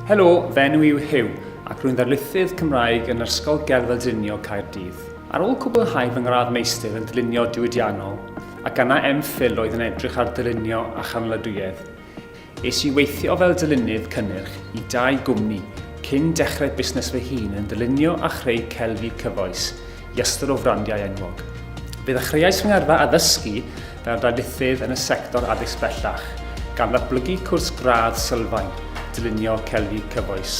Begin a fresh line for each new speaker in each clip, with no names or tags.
Helo, fy enw i yw Hugh ac rwy'n ddarlithydd Cymraeg yn Ysgol Gerdd a Dylunio Caerdydd. Ar ôl cwblhau fy ngradd meistr yn dylunio diwydiannol, ac yna MPhil oedd yn edrych ar ddylunio a chanlyduedd, es i weithio fel dylunydd cynnyrch i dau gwmni cyn dechrau busnes fy hun yn dylunio a chreu celfi cyfoes i ystod o frandiau enwog. Fe ddechreuais fy ngyrfa addysgu fel darlithydd yn y sector addysg bellach, gan ddatblygu cwrs gradd sylfaen, Dylunio Celfi Cyfoes.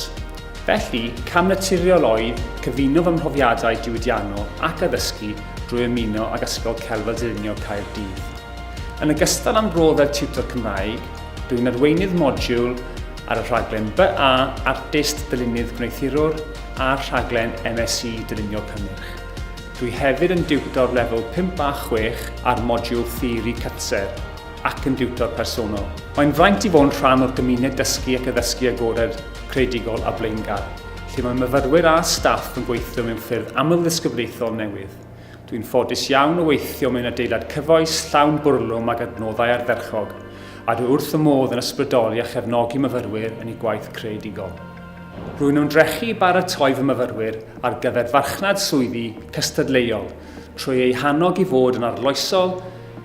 Felly, cam naturiol oedd cyfuno fy mhrofiadau diwydiannol ac addysgu drwy ymuno ag Ysgol Celf fel Dylunio Caerdydd. Yn ogystal â'm rôl fel tiwtor Cymraeg, dw i'n arweinydd modiwl ar y rhaglen BA Artist Dylunnydd Gwneuthurwr a'r rhaglen MSc Dylunio Cynnyrch. Dwi hefyd yn diwtor lefel 5 a 6 ar modiwl Theori Cytser ac yn diwtor personol. Mae'n fraint i fod yn rhan o'r gymuned dysgu ac addysgu agored, creadigol a blaengar, lle mae myfyrwyr a staff yn gweithio mewn ffyrdd amlddisgyblaethol newydd. Dwi'n ffodus iawn o weithio mewn adeilad cyfoes, llawn bwrlwm ag adnoddau ardderchog, a dwi wrth fy modd yn ysbrydoli a chefnogi myfyrwyr yn eu gwaith creadigol. Rwy'n ymdrechu i baratoi fy myfyrwyr ar gyfer farchnad swyddi cystadleuol trwy eu hannog i fod yn arloesol,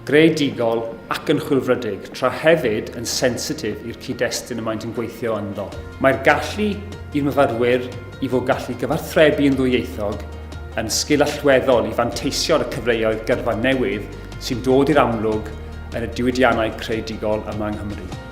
greadigol ac yn chwilfrydig, tra hefyd yn sensitif i'r cyd-destun y maent yn gweithio ynddo. Mae'r gallu i'r myfyrwyr i fod gallu cyfathrebu yn ddwyieithog yn sgil allweddol i fanteisio ar y cyfleoedd gyrfa newydd sy'n dod i'r amlwg yn y diwydiannau creadigol yma yng Nghymru.